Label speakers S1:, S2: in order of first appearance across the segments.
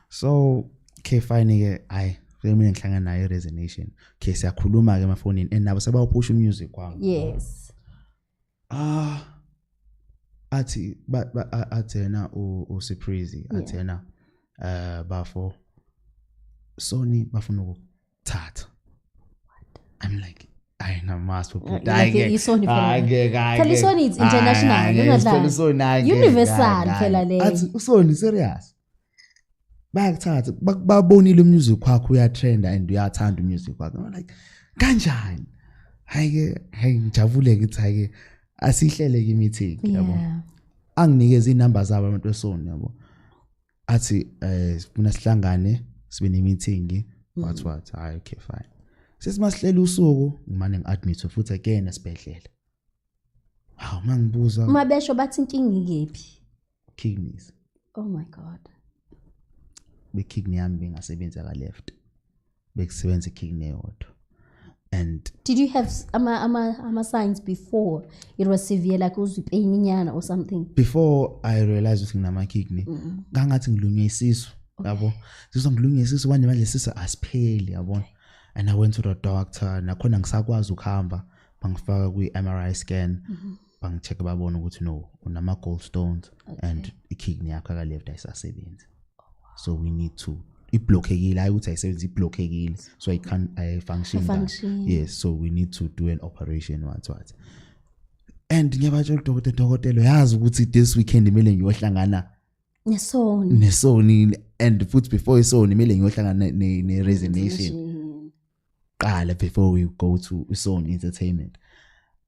S1: so ke fine ke hayi mina ngihlangana nayo resignation ke siyakhuluma ke emafonini and nabo sebawuphusha umusic kwami yes
S2: ah
S1: athi athena u surprise athena eh bafo soni bafuna ukuthatha i'm like hayi namazi ubhuti hayi ke
S2: phela isoni it's international ungadlali universal phela le athi usoni serious
S1: bayakuthatha babonile umusic wakho uyatrenda and uyathanda umusic wakho i'm like kanjani hayi ke hayi ngijabule ngithi hayi ke asihlele ke meeting yabo anginikeza inamba zabo abantu esoni yabo athi eh sifuna sihlangane sibe ne meeting mm. what what hayi okay fine sesimasihlele usuku ngimane ngiadmit futhi again esibhedlela hawu mangibuza uma besho bathi inkinga
S2: ikephi kidneys
S1: oh my
S2: god
S1: bekidney yami bengasebenzi aka left bekusebenza ikidney yodwa and did you have
S2: ama ama ama signs before it was severe like uzwi pain inyana or something before i
S1: realized ukuthi nginama kidney kangathi ngilunywe isisu yabo sizwa ngilunywe isisu manje manje sisa asipheli yabona and i went to the doctor nakhona ngisakwazi ukuhamba bangifaka kwi MRI scan mm-hmm. bangicheck babona ukuthi no unama gold stones okay. and ikidney yakho aka left ayisasebenzi oh, wow. so we need to iblockekile hayi ukuthi ayisebenzi iblockekile so i can i function, function. yes so we need to do an operation what what and ngiyabatsho udokotela dokotela yazi ukuthi this weekend imele ngiyohlangana nesoni nesoni and futhi before isoni imele ngiyohlangana ne, ne resignation qala before we go to song entertainment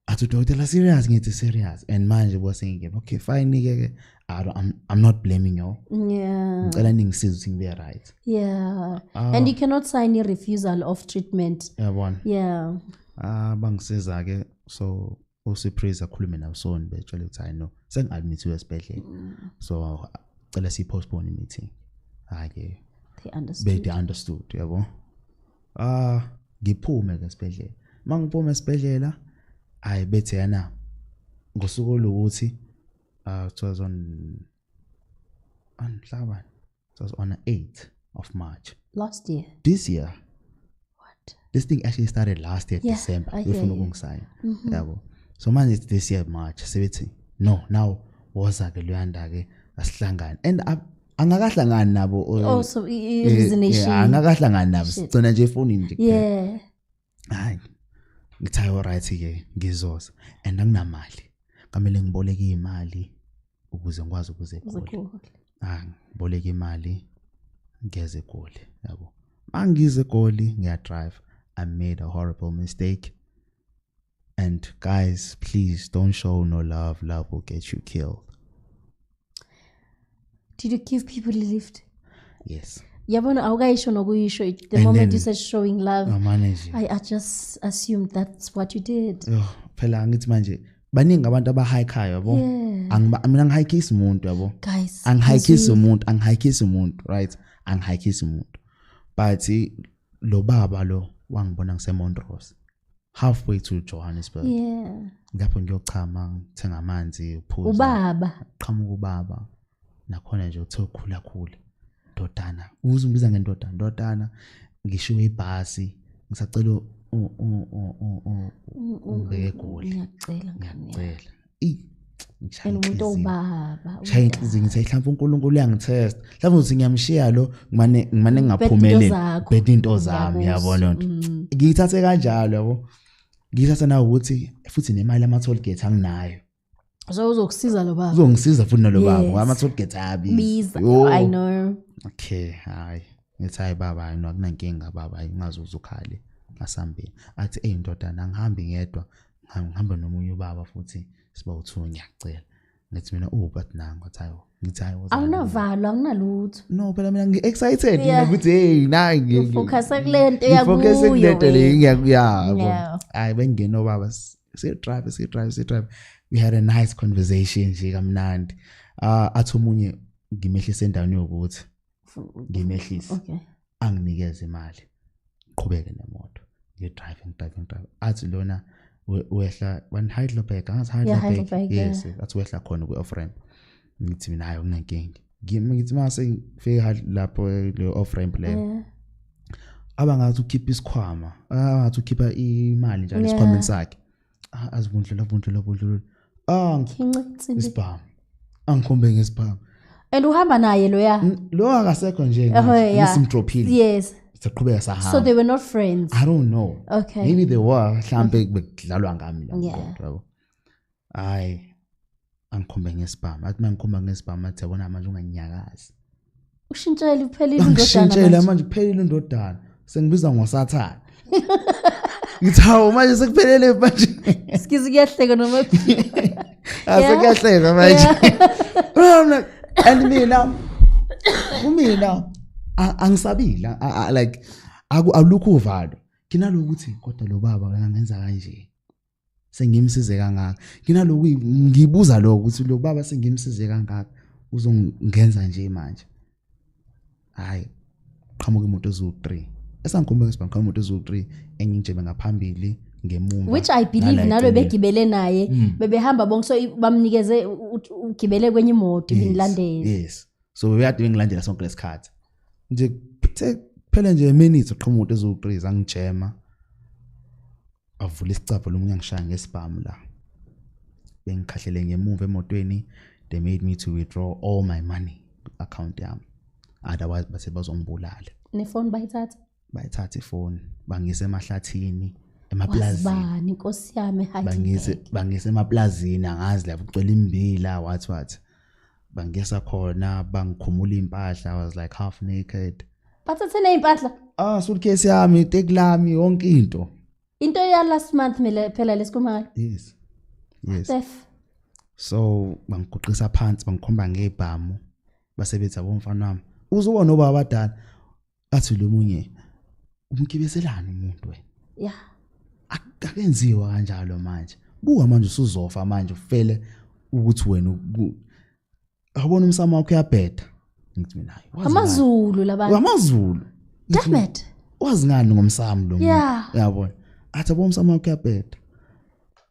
S1: athi udokotela serious ngithi serious and manje bosengike okay fine ke ke I don't, I'm, I'm not blaming you yeah ngicela
S2: ningisize ukuthi
S1: ngibe right yeah
S2: uh, and you cannot sign a refusal of treatment yabona
S1: yeah ah
S2: uh, bangisiza
S1: ke so uSupraise akhulume naWson betshela ukuthi hayi no sengi-admithiwe esibhedlela mm. so cela siyi-postpone i-meeting hhayi-ke bede understood yabo ah ngiphume-ke esibhedlela uma ngiphume esibhedlela hhayi bethe yana ngosuku oluwukuthi uh, ah, 2000 anhlabani It was on the 8th of March. Last year. This
S2: year.
S1: What?
S2: This thing actually
S1: started last year, yeah, December. I hear you. Mm-hmm. Yeah, well. So man, it's this year March. Sebethi no, now woza ke luyanda ke asihlangane. And I, angakahlangani nabo oh so eh, eh,
S2: reasonation angakahlangani nabo
S1: sigcina nje efonini nje yeah
S2: hayi
S1: ngithi ayo right ke ngizoza and anginamali kamele ngiboleke imali ukuze ngikwazi ukuze eGoli ah ngiboleke imali ngeze eGoli yabo mangize eGoli ngiya drive i made a horrible mistake and guys please don't show no love love will get you killed
S2: did you give people a lift yes
S1: yabona awukayisho
S2: nokuyisho the And moment then- you said showing love Oh, manager. I, I just assumed that's what you did Yho, phela angithi
S1: manje baningi abantu abahayikhayo yabo Yeah. Angiba- mina ngihayikisi umuntu yabo guys angihayikisi as
S2: we- umuntu
S1: angihayikisi umuntu right angihayikisi umuntu but lo baba lo wangibona ngisemontrose halfway to Johannesburg yeah
S2: lapho ngiyochama
S1: ngithenga amanzi uphuza ubaba qhamuka
S2: ubaba
S1: nakhona nje uthe ukhula khula ndodana uze umbiza ngendodana ndodana ngishiwe ibhasi ngisacela ungeke goli ngiyacela ngiyacela
S2: eyi
S1: and umuntu owubaba
S2: shaya inhliziyo ngithi
S1: mhlawumbe uNkulunkulu uyangithesta mhlawumbe uthi ngiyamshiya lo ngimane ngimane ngingaphumeleli bhede into zami yabona lonto mm. ngiyithathe kanjalo yabo ngiyithatha nawe ukuthi futhi nemali ama toll gate anginayo so
S2: uzokusiza lo baba uzongisiza futhi nalo baba
S1: ngoba ama toll gate ayabiza i know
S2: okay
S1: hayi ngithi hayi baba hayi akunankinga baba hayi ungaze uzukhale asambeni athi eyi ndodana angihambi ngedwa ngihamba nomunye ubaba futhi siba uthiwe ngiyacela ngithi mina uwubat oh, nango athi ayo ngithi ayo awunavalo anginalutho
S2: no phela mina
S1: ngi-excited mina ukuthi heyi nayi ngifocuse kule nto
S2: eyakufocuse kule nto le
S1: ngiyakuyabo hhayi bengingena obaba sidrive sidrive sidrive we had a nice conversation nje kamnandi uh, athi omunye ngimehlise endaweni yokuthi ngimehlise okay
S2: anginikeze
S1: imali qhubeke nemoto ngi driving driving driving athi lona wehla when Heidelberg angazi Heidelberg yes athi wehla khona ku off ramp ngithi mina hayi unenkingi ngithi mase ngifika lapho le off ramp le abangathi ukhipha isikhwama abangathi ukhipha imali njalo esikhwameni sakhe Ah, azivundlula vundlula vundlula ah
S2: ngincitsile isibhamu
S1: angikhombe ngesibhamu and uhamba
S2: naye loya lo akasekho nje
S1: ngisimdrophile yes
S2: saqhubeka sahamba so
S1: they were not friends i
S2: don't know okay
S1: maybe they were
S2: mhlambe
S1: bekudlalwa ngami la yabo hayi angikhombe ngesibhamu athi mangikhomba ngesibhamu athi yabona manje unganyakazi ushintshele
S2: uphelile indodana ngishintshele manje uphelile
S1: indodana sengibiza ngosathana ngithi hawu manje sekuphelele manje sikizi kuyahleka
S2: noma asekuyahleka
S1: manje and mina kumina angisabile like alukho uvalo nginalokuthi kodwa lo baba kangenza kanje sengimsize kangaka nginaloku ngibuza lokho ukuthi lo baba sengimsize kangaka uzongenza nje manje hayi qhamuka imoto eziwu 3 esangikhombeka sibanga qhamuka imoto eziwu 3 engingijebe ngaphambili ngemumva which i believe nalo
S2: begibele naye hmm. bebehamba bonke so bamnikeze ugibele kwenye imoto ibinilandela yes so bebeyade
S1: bengilandela sonke lesikhathi nje phele nje minutes qhamuka imoto eziwu 3 zangijema avula isicabha lomunye angishaya ngesibhamu la bengikhahlele ngemuva emotweni they made me to withdraw all my money account yami otherwise bathe bazongibulala nefoni bayithatha
S2: bayithatha ifoni
S1: bangise emahlathini emaplazini inkosi yami
S2: bangise bangise
S1: emaplazini angazi lapho kucela imbila wathi wathi bangisa khona bangikhumula impahla i was like half naked bathathe nezimpahla
S2: ah suitcase yami
S1: take lami yonke into into ya last
S2: month mina phela lesikumali yes
S1: yes Steph so bangiguqisa phansi bangikhomba ngebhamu basebenza bomfana wami uzubona obaba abadala athi lo munye umgibezelana umuntu we ya
S2: akakenziwa
S1: kanjalo manje buka manje usuzofa manje ufele ukuthi wena awubona umsamo wakho uyabheda ngithi mina hayi amazulu labantu
S2: amazulu damn it wazi ngani
S1: ngomsamo lo muntu yabona athi abona umsamo wakho uyabheda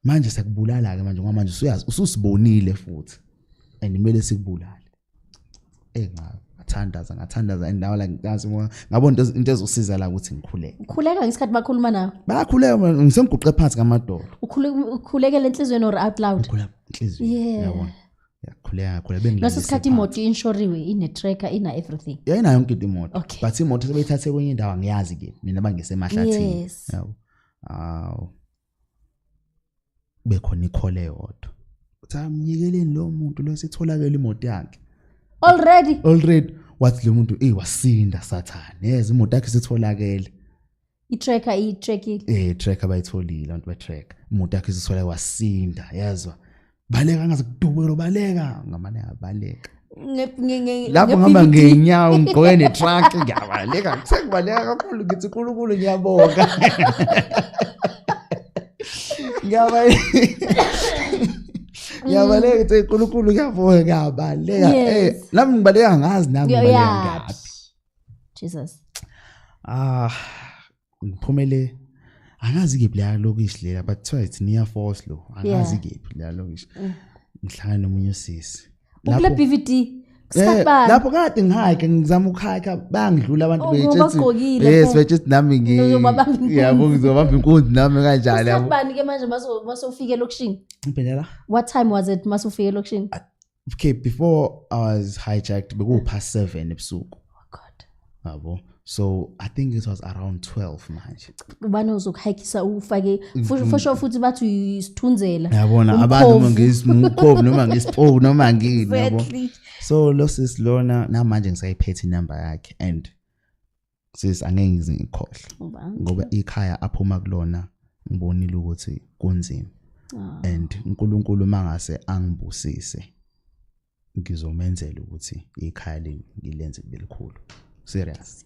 S1: manje sekubulala ke manje ngoba manje usuyazi ususibonile futhi and kumele sikubulale eh nca ngathandaza ngathandaza and now like ngazi uma ngabo into into ezosiza la ukuthi ngikhuleke ukhuleka ngesikhathi
S2: bakhuluma nawe bayakhuleka man, ngisengiguqe
S1: phansi ngamadolo Ukhule- ukhulekela
S2: enhliziyweni or out loud ngikhuleka inhliziyo Yeah.
S1: yabona yakhuleka ngakhuleka bengilalise ngaso isikhathi phansi. imoto
S2: inshoriwe ine-tracker ina-everything yayinayo yonke into imoto
S1: Okay. but imoto sebeyithathe kwenye indawo angiyazi ke mina bangisemahlathini Yes. yabo awu kube khona ikhole yodwa uthi amnyikeleni lo muntu lo sitholakele imoto yakhe already already wathi lo muntu ey wasinda sathane yeza imoto yakhe sitholakele i-tracker i-trackile
S2: eh tracker bayitholile
S1: abantu be-tracker imoto yakhe isithola wasinda yezwa baleka ngaze kudubukelo baleka ngamane abaleka lapho ngihamba ngenyawo ngigqoke netruck ngiyabaleka sekubaleka kakhulu ngithi unkulunkulu ngiyabonga ngiyabaleka ngithi unkulunkulu ngiyabonga ngiyabaleka eh, nami ngibaleka ngazi nami ngibaleka ngaphi jesus
S2: ah
S1: ngiphumele angazi kephi la lokishi lela but kuthiwa it's near force lo angazi kephi la lokishi mm. ngihlangana nomunye usisi lapho BVD
S2: Eh, lapho
S1: kade ngihayike ngizama ukuhayika bangidlula abantu oh, betshetsibagqokile yes betshetsib nami ngiyabo ngizobamba inkunzi nami kanjalo yabo ubani ke manje
S2: masofika elokishini impela la what
S1: time was it
S2: masofika elokishini okay before
S1: i was hijacked beku past 7 ebusuku oh god
S2: yabo
S1: so i think it was around 12 manje ubani ozokuhikisa
S2: ufake fosho futhi bathi uyisithunzela yabona abantu uma
S1: ngismukhovu noma ngispoke noma ngini yabo so lo sis lona namanje ngisayiphethe inamba yakhe and sis angeke ngize ngikhohle ngoba ikhaya aphuma kulona ngibonile ukuthi kunzima ah. and uNkulunkulu mangase angibusise ngizomenzela ukuthi ikhaya leli ngilenze likhulu serious